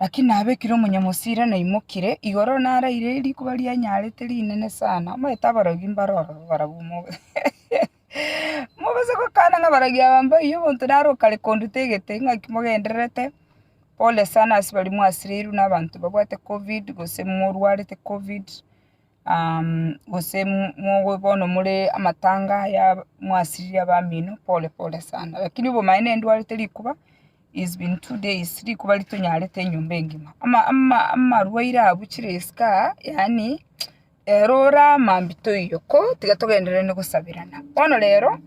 Lakini nabekire omonyamosira naimokire igoro naraire rikuba rianyarete rinene sana, omanyete abarogi mbare ororo barabwo mogose gokana ng'a abarogi aba mbaiyie omonto naro okare konduta egete ng'aki mogendererete, pole sana ase baria mwasireirwe nabanto babwate covid gose morwarete covid. gose mobe bono more amatanga aya mwasirire abamino pole pole sana, lakini obomaene ndwarete rikuba is been two days rikuba ritonyarete enyomba engima, ama- ama- amarwaire aya abuchire isiko aa yaani ero ore amambia toiyo ko tiga togendereranie gosaberana, bono rero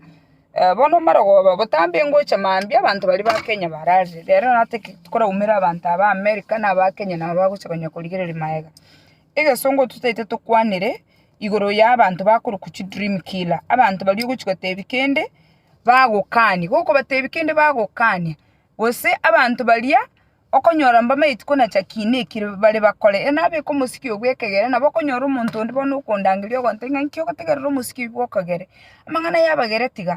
bono omarogoba botambe ngocha mambia abanto baria ba Kenya bararire, rero natake tokoraumera abanto aba America na aba Kenya nabo bagocha korigereria magega. Egesongo totaete tokwanere igoro y'abanto bakorokwa chi dream killer, abanto baria ogochi gotebia kende bagokania, gokobatebia kende bagokania, gose abanto baria okonyora mbamaeti kona cha kiina eki bare bakore, e nabo eke omosike oo bw'ekegere nabo okonyora omonto onde bono okondangeria ogontebia ng'a nki ogotegerera omosike oyo bw'okogere, amang'ana ayabagere tiga.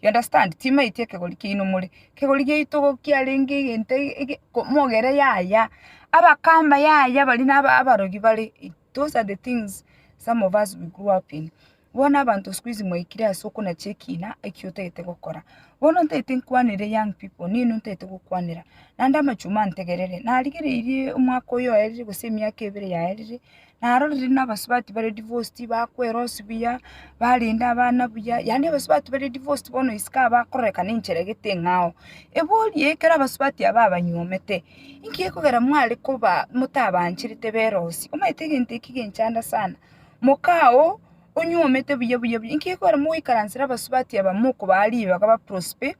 You understand? Timaeti ekegori kiaino more. Ekegori giaito igo kiarenge egento ege mogere yaya, abakamba yaya baria na abarogi bare, those are the things some of us we grew up in. Bono abanto sikuizi mwaikire ase okonacha ekina eki otagete gokora. Bono ntagete nkwanere young people, nini ntagete gokwanera? Naende amachuma ntegerere, narigereirie omwaka oyo oerire gose emiaka ebere yaerire, narorire buna abasubati bare divorced bakwerosi buya, barende abana buya, yaani abasubati bare divorced bono isiko aba bakororeka na enchera egete eng'ao. Igo oria ekero abasubati aba abanyuomete, inki gekogera mware koba motabaancherete berosi? Omanyete egento eki genchanda sana, moka oo onyuomete buya buya buya, inki gekogera mogoikaransera abasubati aba mokobaa ribaga ba prosper.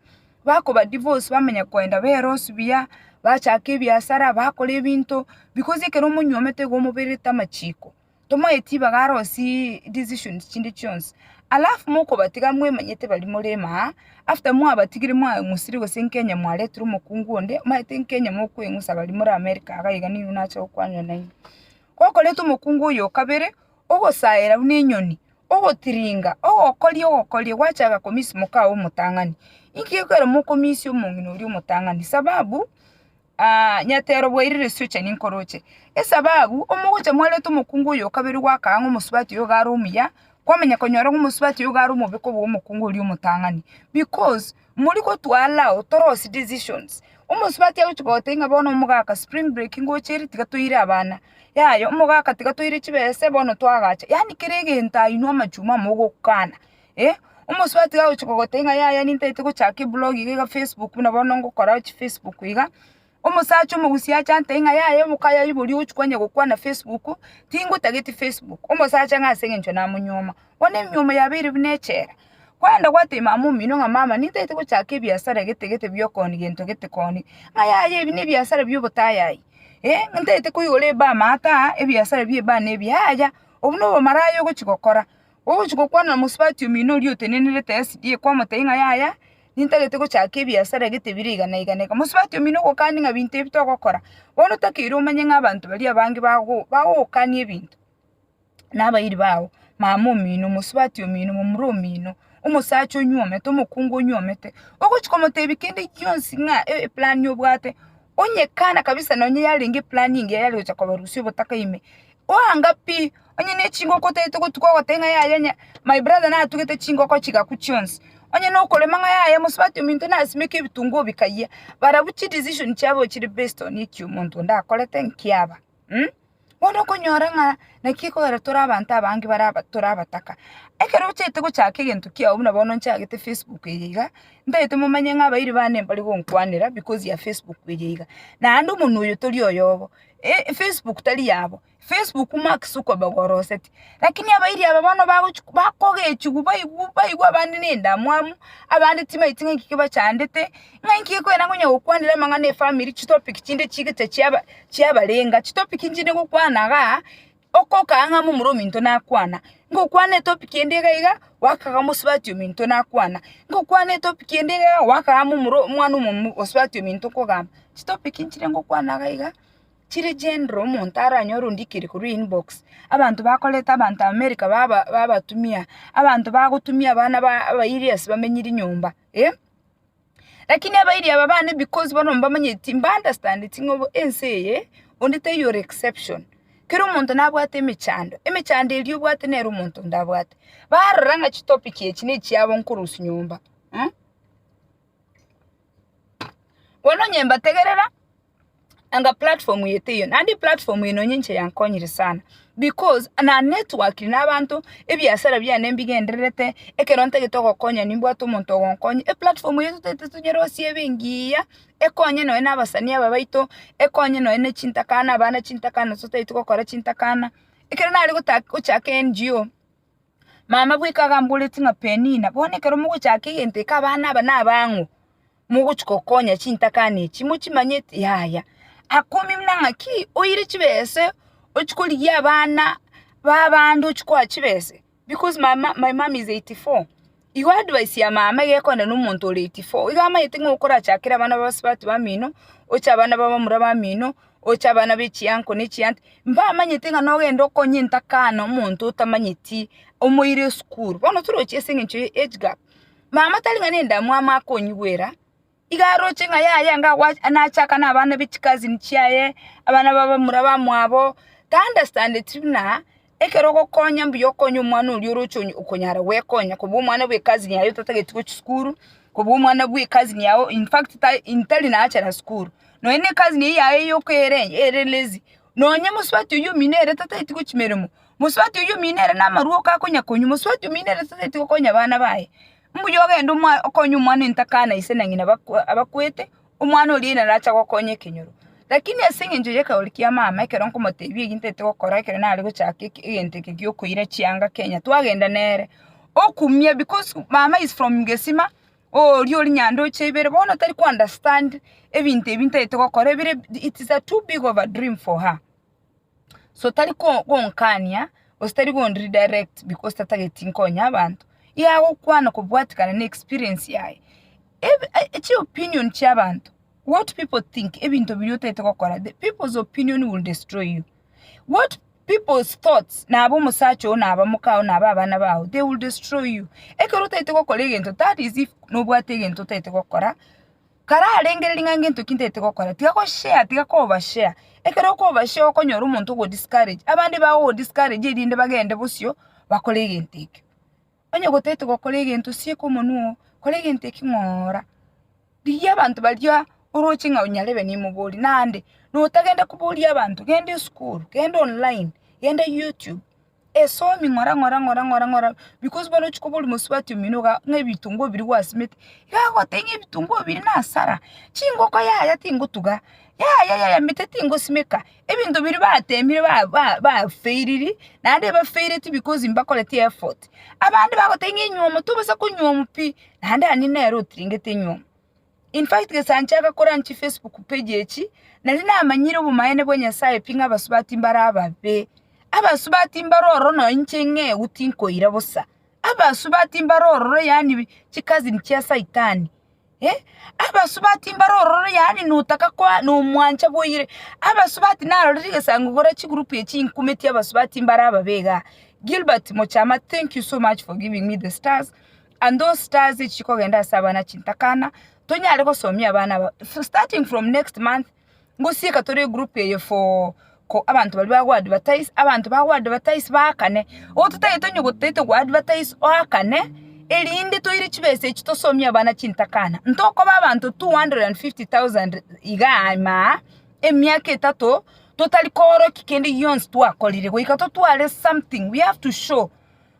Bakoba divorce, bamanya koenda berosi buya, bachaka ebiasara, bakora ebinto, because ekero omonyuomete iga omobererete amachiko, tomoeti ibaga arosie decisions chinde chionsi. Alafu mokobatiga mwemanyete baria more maa, after mwabatigire mwang'usire gose nkenya mwaretire omokungu onde, omanyete nkenya mokweng'usa baria more America iga nigo nache gokwanera naende. Gokoreta omokungu oyo okabere, ogosaera buna enyoni, ogotiringa, ogokoria ogokoria gwachaga komisia omokao omotang'ani. Inki gekorera mokomisia omong'ina oria omotang'ani? Sababu, nyatero bwairire ase ocha ninkore oche. Esababu, omogocha mwarwete omokungu oyo okabere gwakaa ng'a omosubati oyo iga are omuya, kwamanya konyora ng'a omosubati oyo iga are omobe kobua omokungu oria omotang'ani because. Mori gotwarao torosi decisions. Omosubati agochi gote ng'a bono omogaka spring break ngoche ere tiga toire abana. Yaya omogaka tiga toire chibese bono twagacha. Yaani kera egento ainwe amachuma amo ogokana. Omosubati iga agochi gogotebi ng'a yaya nintaete gochaka eblogi iga Facebook buna bono ngokora chi Facebook iga. Omosacha omogusii achante ing'a yaye omokayo aiborie ogochia kwanya gokwana Facebook, tingotageti Facebook. Omosacha ng'a ase engencho namonyuoma. Bono emiomo yabeire buna echela. Kwenda gwatebia mama omino ng'a mama nintaete gochaka ebiasara gete gete bio koni gento gete koni. Ng'a yaya ebi nebiasara bio botayayi. Ntaete koigora eba amaato aa ebiasara bie eba ne ebi yaya. Obwo no obomaraya ogochia gokora. Ogochia gokwana na omosubati omino oria otenenerete SDA kwamotebia ng'a yaya. nintagete gochaka ebiasara egete bire iga na iga na iga. Mosubati omino ogokani ng'a binto ebi togokora. Bono otakeire omanye ng'a abanto baria abange bago bagogokani ebinto. Na abairi bago, mama omino, mosubati omino, momura omino, omosacha onyuomete, omokungu onyuomete, ogochi komotebia kende gionsi ng'a e- eplani obwate, onye kana kabisa nonye yarenge eplani engiya yare gocha kobarusia obotaka ime, Oanga pi, onye ne chingoko otagete gotuga ogoteba ng'a yaya onye my brother natugete chingoko chigaku chionsi. Onye na okorema ng'a yaya omosubati ominto nasimeke ebitunguo bikayia. Barabwo chi decision chiabo chire based on eki omonto onde akorete nkiaba. Bono okonyora ng'a naki ekogera tore abanto abange bare aba tore abataka. Ekero ochete gochaka egento kiago buna bono nchagete facebook eye iga, ntagete momanye ng'a abairi bane mbari gonkwanera because ya facebook eye iga. Naende omonwe oyo tori oyobo. E Facebook tari yabo, Facebook Mark Zuckerberg oroseti. Lakini abairi aba bono bagochi bakogechigwa baigwa baigwa abande na endamwamu, abande tibaeti ng'a ekio bachandete, ng'a inki ekwena konya gokwanera amang'ana efamiri chitopic chinde chigicha chiaba chiabarenga chitopic nchinde gokwana igaa. Okokaa ng'a momura ominto nakwana, ngokwana etopic ende iga iga, goaka iga mosubati ominto nakwana, ngokwana etopic ende iga iga, goaka iga momura omwana omomu osubati ominto okogamba. Chitopic nchire ngokwana iga iga, chire general omonto aranyore ondikeri korwa inbox, abanto bakoreta abanto America baba babatumia, abanto bagotumia abana ba abairi ase bamenyiri nyomba eh. Lakini abairi aba bane because bono mbamanyeti mba understandeti ng'a ense eye onde taiyo ore exception. Kera omonto nabwate emechando, emechando eria obwate nere omonto onde abwate. Barora ng'a chitopic echi nechiabo nkorusia nyomba. Bono onye mbategerera, anga platform eye teiyo naende eplatform eye nonya inche yankonyire sana because na network na abanto ebiasara biane mbigendererete ekero ntagete ogokonya nimbwate omonto ogonkonya eplatform eye totaete tonyore gosiba engiya ekonye nonya na abasani aba baito ekonye nonya na chintakana abana chintakana totaete gokora chintakana ekero nare gota gochaka NGO mama bweka gamboreti ng'a Penina bono ekero mogochaka egento eke abana aba nabang'o mogochia gokonya chintakana echi, mochimanyeti? Yaya, akomi buna ng'aki oire chibese ochia korigia abana b'abande ochia koa chibese because my mum my mum is eighty four, igo advice ya mama iga ekonywa na omonto ore eighty four, igo amanyete ng'a okorachakere abana ba bosubati bamino, oche abana ba bamura bamino, oche abana ba echia uncle na echia aunty, mbamanyete ng'a nogenda okonye entakana omonto otamanyeti, omoire esukuru, bono torochi ase eng'encho ya age gap. Mama tari ng'a nendamwamu akonyigwera, iga aroche ng'a yaya iga gwa nachaka nabana ba chicousin chiaye, abana ba bamura bamwabo, taunderstandeti buna ekero ogokonya mbuya okonye omwana oria oroche okonyara gwekonya kobua omwana bwe cousin yaye otatageti gochia sukuru, kobua omwana bwe cousin yago in fact tai intari nachera sukuru, nonya ne cousin eyio yago yoka ere ere lazy, nonya mosubati oyio omino ere tatageti gochia meremo. Mosubati oyio omino ere namarua oka akonyakonywa, mosubati omino ere sasa etiga okonya abana baye. Mbuya ogende omoa okonye omwana entaka na ise na ng'ina bakwa abakwete, omwana oria narache agokonya ekenyoro. Lakini ase eng'encho y'ekeroria kia mama, ekero nkomotebia egi ntete gokora ekero nare gochaka eke egento eke giokoira chianga Kenya, twagenda nere, okumia because mama is from Gesima, oria ore Nyandoche ibere, bono tari ko understand ebinto ebi ntagete gokora ebire it is a too big of a dream for her. So tari gonkania, gose tari go redirect because tatageti nkonye abanto, iga agokwana kobwatekana ne experience yaye. Chi opinion chia abanto, what pipo think, ebinto biria otagete gokora, the pipo's opinion will destroy you, what pipo's thoughts nabo omosacha oo, naba omoka oo, naba abana bao, they will destroy you. Ekero otagete gokora egento, that is if nobwate egento otagete gokora. Kararengere ring'ana ngento ki ntagete gokora, tiga goshare, tiga kobashare. Ekero okobashare okonyora omonto ogo-discourage, abande bagogo-discourage erinde bagende bosio bakore egento ekio. Onye gotagete gokora egento, sieka omonwa oo, kora egento ekio ng'oora. Rigia abanto baria oroche ng'a nyarebe nimoborie, naende notagenda koboria abanto, genda esukuru, genda online, genda youtube. esomi ng'ora ng'ora ng'ora ng'ora ng'ora because bono ochia koba orimosubati omino igaa ng'a ebitunguo ebiria gwasimete, iga agoteba ng'a ebitunguo ebiria nasara, chingoko yaya tingotuga, yaya yaya mete tingosimeka, ebinto biria batemire ba ba bafairiri, naende ebafaireti because mbakoreti effort, abande bagoteba ng'a enyiomo tobasa konyiowa pi, naende aye nere otiringete enyiomo. In fact gese anchaaka koranch chi Facebook page echi, nari namanyire obomaene bwa Nyasaye pi ng'a abasubati mbare ababe. Abasubati mbare ororo nonya inche ing'eu tinkoira bosa. Abasubati mbare ororo yaani chi cousin chia Saitani. Eh, abasubati mbare ororo yaani notaka koa nomwancha boyire. Abasubati narorire egesango gore chi group echi inkumeti abasubati mbare ababe igaa. Gilbert Mochama, thank you so much for giving me the stars. And those stars echi kogenda ase abana chintakana tonyare gosomia abana aba starting from next month ngosieka tore egroup eye for ko abanto baria bago advertise abanto bago advertise baakane igo totagete onye gotete go advertise oakane erinde toire chibesa echi tosomie abana chintakana ntokoba abanto 250,000 igaa aima aa emiaka etato totari koorokia kende gionsi twakorire goika totware something we have to show.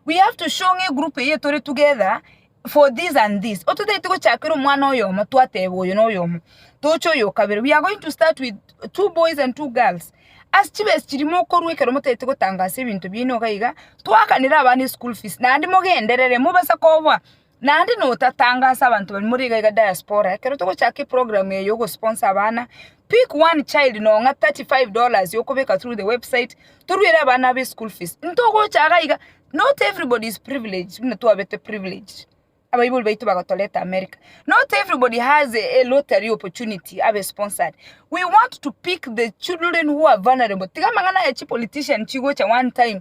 We have to show ng'a egroup eye tore together for this and this. Ototagete gochakera omwana oyomo twateba oyo noyomo. Toche oyo okabere. We are going to start with two boys and two girls. As chibesi chiri mokorwa ekero motagete gotangasa ebinto biaino iga iga, twakanere abana eschool fees naende mogenderere mobasa koboa Naende notatange ase abanto baria more iga iga diaspora ekero togochaka eprogram eye yogo sponsor abana pick one child nonye 35 dollars okobeka through the website toruere abana abo eschool fees ntogocha iga iga not everybody is privileged buna twabete privileged abaibori baito bagotoreta America not everybody has a lottery opportunity abe sponsored we want to pick the children who are vulnerable tiga amang'ana aya chipolitician chigocha one time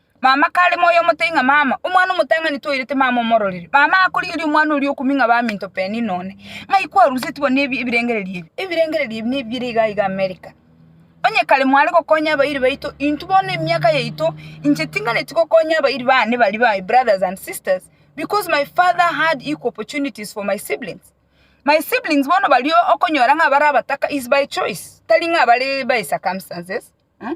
Mama kare moyo omote ng'a mama, omwana omotang'ani toirete mama omororere. Mama akorigeria omwana oria okumia ng'a baminto penina one. Ng'ai kwaruseti bono ebi ebirengererio ebi? Ebirengererio ebi nebi bire iga iga America. Onye kare mware gokonya abairi baito, intwe bono emiaka yaito, inche tinganeti gokonya abairi bane baria ba my brothers and sisters because my father had equal opportunities for my siblings. My siblings bono baria okonyora ng'a bare abataka is by choice, tari ng'a bare by circumstances, mh.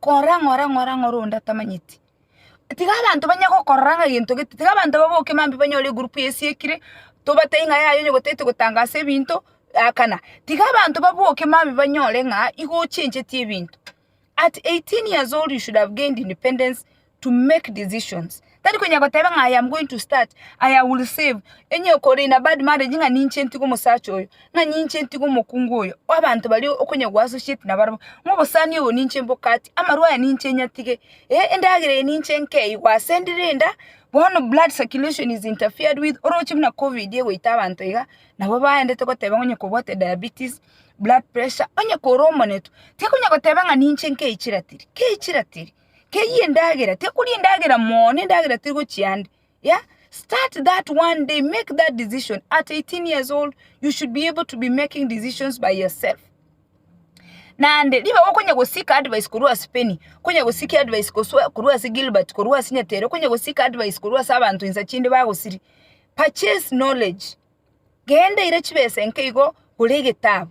Kora ng'ora ng'ora ng'ora onde atamanyeti. Tiga abanto banye gokorora ng'a gento gete, tiga abanto baboke mambia banyore egroup yesiekire, tobatebi ng'a yaya onye gotete gotangasa ebinto, yakana. Tiga abanto baboke mambia banyore ng'a igo ochencheti ebinto. At eighteen years old you should have gained independence to make decisions tari konya goteba ng'a I am going to start, I will save, onye okore in a bad marriage ng'a ninche ntige omosacha oyo, ng'a ninche ntige omokungu oyo, abanto baria okonya go associate nabarabwo, ng'a obosani obo ninche mbokati, amarwa aya ninche nyatige, eh endagera eye ninche nkee igo ase ndire enda, bono blood circulation is interfered with, oroche buna covid egoita abanto iga, nabo baendete goteba ng'a onye kobwate diabetes, blood pressure, onye kore omonetwe, tikonya goteba ng'a ninche nkei chiratiri, kei chiratiri. keyie endagera tekori endagera moo nendagera teri gochia ande yeah start that one day make that decision at 18 years old you should be able to be making decisions by yourself naende ribaga okonya gosik advice korwa ase penny okonya gosik advice goswa korwa ase gilbert korwa ase nyatere okonya gosik advice korwa ase abanto insa chinde bagosiria purchase knowledge genda eira chibesa enke igo gora egetabu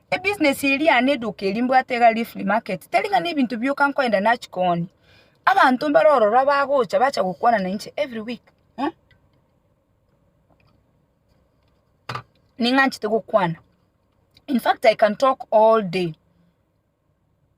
Ebusiness eye riane eduka eri mbwate iga riri free market, tari ng'a nebinto bioka nkoenda nachi koonia. Abanto mbare ororo abagocha bacha gokwana na inche every week eh, ning'anchete gokwana, infact I can talk all day.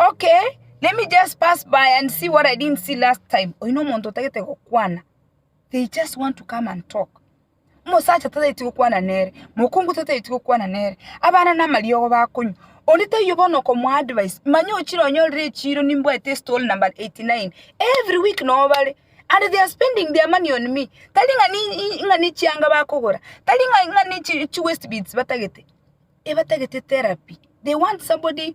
Okay, let me just pass by and see what I didn't see last time. Oyo no omonto otagete gokwana. They just want to come and talk. Omosacha tataiti gokwana nere, mokungu tataiti gokwana nere, abana na amariogo bakonywa. Onde taiyo bono okomo advice, manya ochire onyorire echiro nimbwate stall number 89. Every week no bare. And they are spending their money on me. Tari ng'a ni i- ng'a ni chianga bakogora. Tari ng'a ng'a ni chi, chi waste beads batagete. Ebatagete therapy. They want somebody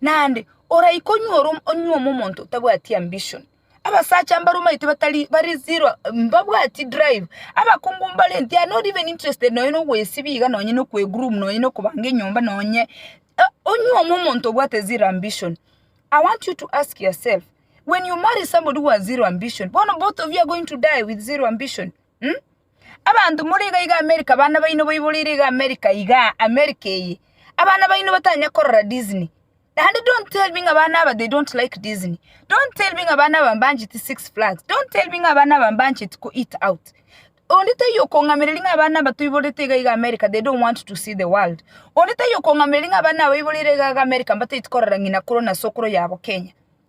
Naende oraike onyuore onyuome omonto otabwati ambition. Abasacha mbare omanyete batari bari zero mbabwati drive. Abakungu mbare they are not even interested nonye na ogoesibia iga nonye na okwe groom nonye na okobanga enyomba nonye onyuome omonto obwate zero ambition. I want you to ask yourself when you marry somebody who has zero ambition bono both of you are going to die with zero ambition? Abanto more iga iga America abana baino baiboreire iga America igaa America eye abana baino batanya korora Disney naende don't tell me ng'a abana aba they don't like Disney don't tell me ng'a abana aba mbancheti Six Flags don't tell me ng'a abana aba mbancheti ko eat out onde taiyo okong'amereria ng'a abana aba toiborete iga iga America they don't want to see the world onde taiyo okong'amereria ng'a abana aba baiboreire iga iga America mbataeti korora ng'ina korwa na sokoro yabo Kenya.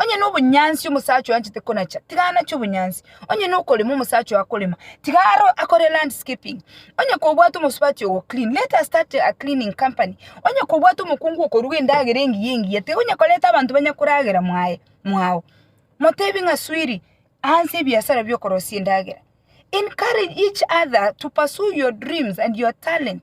Onye nobonyansi omosacha oyo anchete konacha, tiga anache obonyansi. Onye nokorema omosacha oyo akorema, tiga aro- akore landscaping. Onye kobwate omosubati ogo clean, let us start a cleaning company. Onye kobwate omokungu okoruga endagera engiya engiya, tiga onye koreta abanto banye koragera mwaye mwao. Motebi ng'a swiri, aanse ebiasara bi'okorosia endagera. Encourage each other to pursue your dreams and your talent.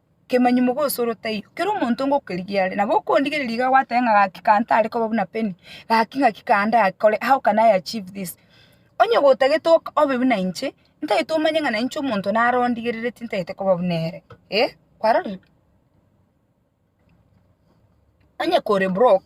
Kemanyi mogosoro taiyo, kera omonto ngokerigia are, nabo okondigereria iga gwateba ng'a gaki ka ntare koba buna Penny, gaki ng'aki ka ndakore, how can I achieve this? Onye gotagete ok- obe buna inche, ntagete omanye ng'a nainche omonto naro ondigereretie ntagete koba buna ere, eh, kwarorire? Onye kore broke.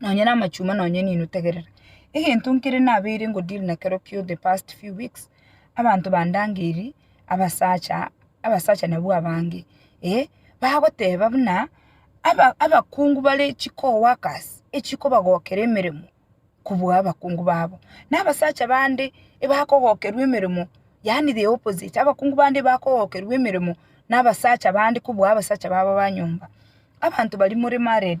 nonya namachuma nonya enino tegerera. Egento nkere nabeire ngo deal nakero kio the past few weeks, abanto bandangeirie abasacha, abasacha nabwo abange, eh, bagoteba buna aba abakungu bare chicoworkers echikobagokera emeremo kobua abakungu babo. Na abasacha bande ebakogokerwa emeremo, yaani the opposite, abakungu bande ebakogokerwa emeremo nabasacha bande kobua abasacha babo ba nyomba. Abanto baria more married.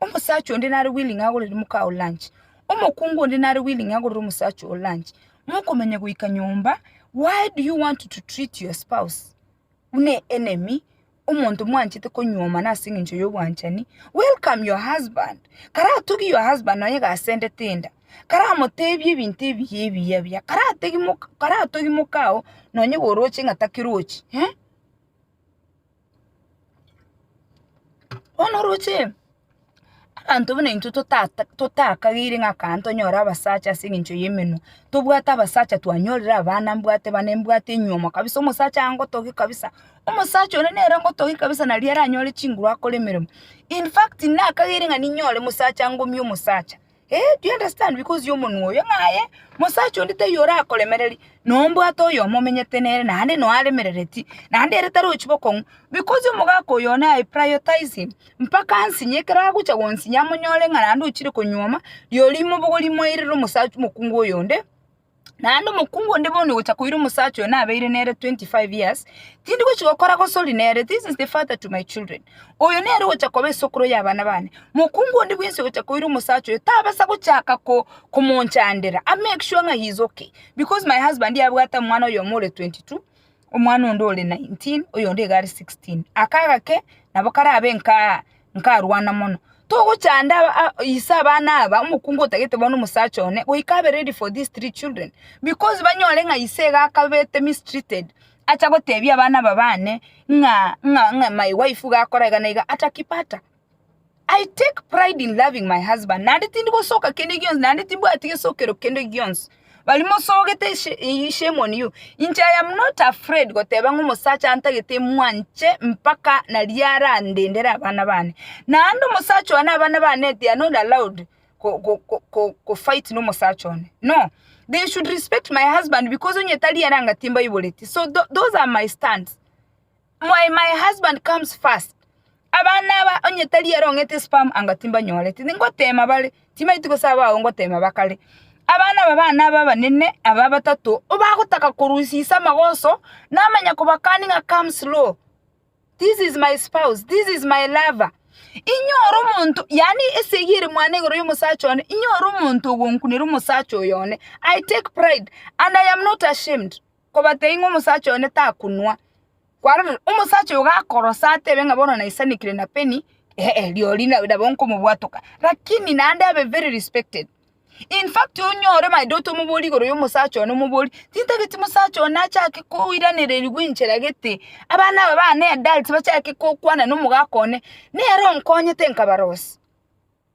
Omosacha onde nare willing agorere moka oo lunch. Omokungu onde nare willing agorere omosacha oo lunch. Mokomenya goika nyomba, why do you want to treat your spouse buna enemy, omonto mwanchete konyuoma na ase eng'encho y'obwanchani? Welcome your husband. Karatogie your husband nonye gasendete enda, karamotebie ebinto ebiya ebiya ebiya, karategi moka, karatogi moka oo nonye goroche ng'a takerochi, eh. Bono oroche abanto buna intwe totakagire ng'a kaa ntonyore abasacha ase eng'encho y'emenwa, tobwate abasacha twanyorire abana mbwate bane mbwate enyiomo kabisa omosacha angotogie kabisa, omosacha one nere ongotogie kabisa nari aranyore chinguru akore emeremo. In fact, nakagere ng'a ninyore mosacha ngomia omosacha. Ee, do you understand, because y'omonwa oyo ng'aye, mosacha onde taiyo orakoremereria, nombwate oyomo omenyete nere naende noyo aremerereti, naende ere tarochi bokong'u, because omogaka oyo one I prioritize him, mpaka ansinye ekero agocha gonsinya amonyore ng'a naende ochire konyuoma, rirorio imobogo rimoirere omosacha omokungu oyonde. Naende omokungu onde bono ogocha koira omosacha oyo nabeire nere 25 years, tindi gochi gokora gosori nere, this is the father to my children. Oyo nere ogocha koba esokoro y'abana bane. Mokungu onde bwensi ogocha koira omosacha oyo tabasa gochaka ko, komonchandera, a make sure ng'a he is okay, because my husband abwate omwana oyomo ore 22, omwana onde ore 19, oyonde iga are 16. Aka agake nabo karabe nka nkarwana mono. Togochanda aba a- ise abana aba, omokungu otagete bono omosacha one, goika abe ready for these three children, because banyore ng'a ise iga akabete mistreated, acha gotebia abana aba bane ng'a ng'a ng'a my wife iga akora iga na iga, atakipata. I take pride in loving my husband naende tindi gosoka kende gionsi naende timbwati gesokero kende gionsi baria mosogete she- eh, shame on you inche I am not afraid goteba ng'a omosacha antagete mwanche mpaka naria arandendere abana bane naende omosacha one abana bane they are not allowed ko- ko- ko- ko- kofight na omosacha one no they should respect my husband because onye tari ere anga timbaiboretie so tho- those are my stands. Why my husband comes first Abana aba onye tari ere ong'ete sperm anga timbanyoreti ningotema bare chimaiti gose abwo agwo ngotema ba kare. Abana aba bane aba abanene aba batato obagotaka korusisia amagoso namanya kobakani ng'a come slow this is my spouse this is my lover inyore omonto yaani esegi ere mwane igoro y'omosacha one inyore omonto ogonkunera omosacha oyo one I take pride and I am not ashamed. Kobatebia ng'a omosacha one takonwa. Kwarorire, omosacha oyo gakorosa atebe ng'a bono naisanekire na peni, eeh rirorio na- nabo nkomobwatoka. Lakini naende abe very respected. In fact onyore my daughter omoborie igoro y'omosacha one omoborie, tintageti mosacha one achake koiranererigwa enchera gete, abana aba bane adults bachake kokwana nomogaka one, nere onkonyete nkabarosia.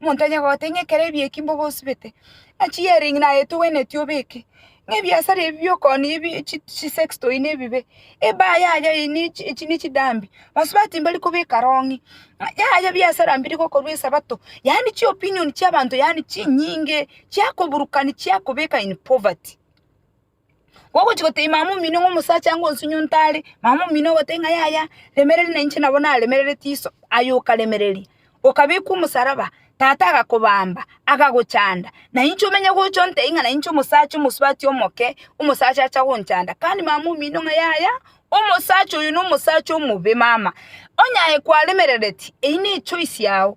Omonto tanyare kogotebia ng'a ekero ebiya eki mbobe osibete, ng'a chi-earring naye togwenereti obeke, ng'a ebiasara ebi bi'okoonia ebi chi chisex toy nebibe, ebaa yaya eye ne echi echi ne chidambi, basubati mbari kobeka rong'i, ng'a yaya biasara mbiri gokorwa esabato, yaani chiopinion chi'abanto yaani chinyinge, chiakoburukani chiakobeka in poverty. Gogochia gotebia mama omino ng'a omosacha anga onsinye onto are, mama omino ogotebia ng'a yaya remereri na inche nabo naremerereti iso, aye okaremereria, okabekwa omosaraba, tata agakobamba, akagochanda, na inche omenye gocha ontebia ng'a na inche omosacha omosubati omoke, omosacha acha gonchanda. Kandi mama omino ng'a yaya, omosacha oyo nomosacha omobe mama, onye aye kwaremerereti, eyio ne echoice yao,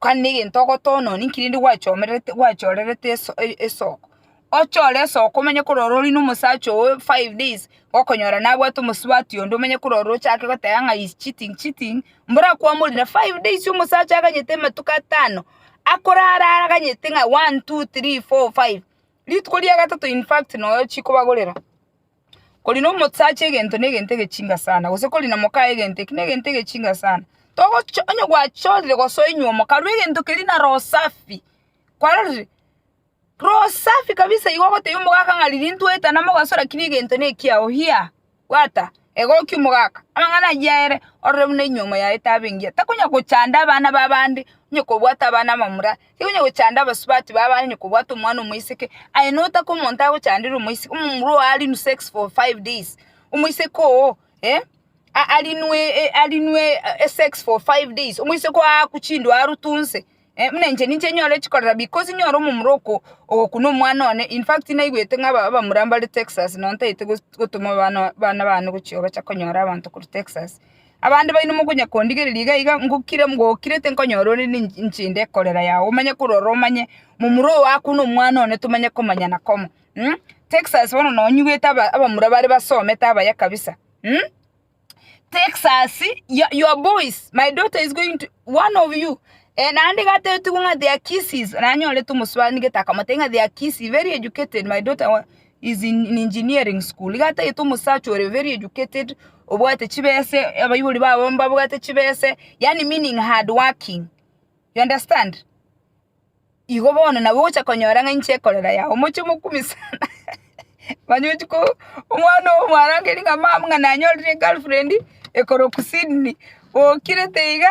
Kore negento ogotoononi nki rende gwachomererete gwachorerete esoko, ochore esoko omenye korora ori nomosacha ogo five days, okonyora nabwate omosubati onde omenye korora ochake goteba ng'a he's cheating cheating, mbora kwamorire five days omosacha aganyete amatuko atano, akorara aganyete ng'a one, two, three, four, five, rituko ria gatato infact noyo chikobagorera. Kori nomosacha egento negento egechinga sana, gose kori nomoka egento eki negento egechinga sana, togochi onye gwachorire gose oinywa omokarua egento keria na roho safi, kwarorire? Roho safi kabisa igo ogotebia omogaka ng'a riria ntwaetana mogaso lakini egento nekiao hiya, bwata egokia omogaka, amang'ana ayio aere orore buna inyuomo yaye tabe engiya, takonya gochanda abana ba abande, onye kobwata abana abamura. Tikonye gochanda abasubati babo aye onye kobwate omwana omoiseke, aye notake omonto agochandere omoiseke, omomura oo arinwe sex for five days, omoiseke oo eh, a- arinwe e- arinwe e- esex for five days, omoiseke oo aakwe chindwaro toonse eh, buna inche ninche nyore echikorera because nyore omomura oko ogokuna omwana one, in fact naigwete ng'a aba- abamura mbare Texas nontaete gos- gotoma abana bana bane gochia bacha konyora abanto korwa Texas. Abande baino mokonya kondigereria iga iga ngokire ngokire tinkonyora ore ninche inde ekorera yao omanye korora omanye momura oo akwo na omwana one tomanye komanyana komo mh Texas bono nonyigwete aba abamura bare basomete abaya kabisa mh Texas yo your boys my daughter is going to one of you eh naende iga atebitigwe ng'a their kisses nanyorete omosubaa nigete akamotebia ng'a their kisses very educated my daughter wa is in engineering school iga atagete omosacha ore very educated obwate chibese abaibori babo mbabwate chibese yaani meaning hard working you understand igo bono nabo ogocha konyora ng'a inche ekorera yao moche mokumia sana manya ochi ko omwana ogo mwarangeria ng'a mama ng'a nanyorire egirlfriend ekoroku sydney bokire teiga.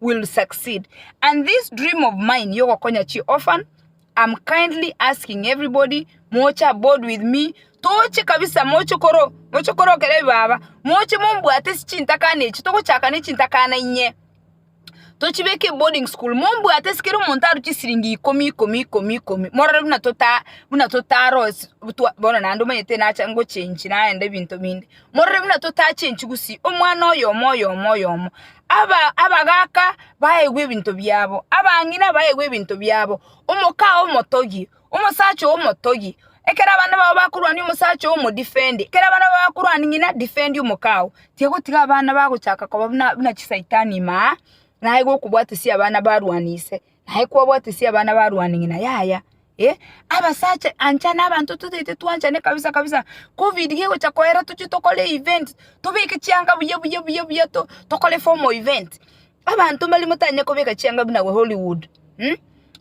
will succeed and this dream of mine yogokonya chi orphan am kindly asking everybody moche aboard with me toche kabisa moche koro moche korokera ebibaba moche mombwate ase chintakana echi togochaka ne chintakana inye tochibeke eboarding school mombwate ase kera omonto arwe chisiringi ikomi ikomi ikomi ikomi morore buna tota buna totarosi buna twa bono naende omanyete nacha ngochenchi naende ebinto binde Morore buna totache enchigusi, omwana oyomo oyomo oyomo, abagaaka baegwe ebinto biabo, abang'ina baegwe ebinto biabo, omoka oo omotogi, omosacha oo omotogi. Ekero abana bao bakorwania omosacha oo omodefendi, ekero abana bao bakorwania ng'ina, defendi omoka oo. Tiga gotiga abana bagochaka koba buna chisaitani ime aa, naye gokobwatesia abana barwani ise. Naye kwabwatesia abana barwane ng'ina, yaya, eh, abasacha ancha nabanto totaete twanchane kabisa kabisa, covid gegocha koera tochie tokore event, tobeke chianga buya buya buya buya tokore formal event, abanto mbaria motanyare kobeka chianga buna abwo hollywood,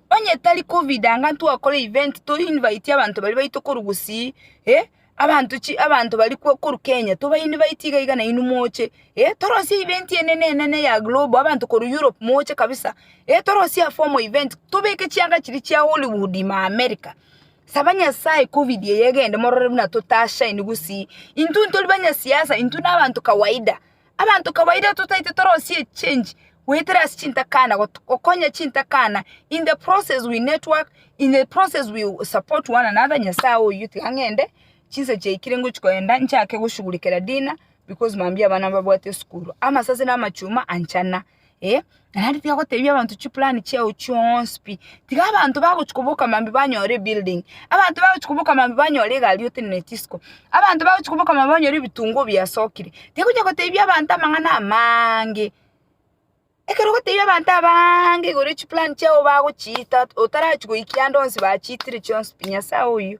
onye tari covid anga ntwakore event to invite abanto baria baito korwa gusii, eh. Abanto chi abanto bari kwo koru Kenya tobaini baiti iga iga nainwe moche eh torosie event enene enene ya global abanto koru Europe moche kabisa eh torosie a formal event tobeke chianga chiria chia Hollywood ma America saba nyasaye covid eye egende morore buna totashaini gusii intwe ntori banyasiasa intwe na abanto kawaida Abanto kawaida totaete torosie echange goetera ase chintakana gokonya chintakana in the process we network in the process we support one another nyasaye oyio tiga ng'ende chinsa chiaikire ngochia kogenda nchake goshughulikera dinner because mambia abana mbabwate esukuru amasase na amachuma anchana. eh, naende tiga gotebia abanto chiplan chiao chionsi pi, tiga abanto bagochia koboka mambia banyore ebuilding, abanto bagochia koboka mambia banyore egari oteneneti isiko, abanto bagochia koboka mambia banyore ebitunguo biasokire, tiga onya gotebia abanto amang'ana amaange, ekero ogotebia abanto abaange igoro ya chiplan chiao bagochiita otarachi goikia ande onsi bachiitire chionsi pi, Nyasae oyio.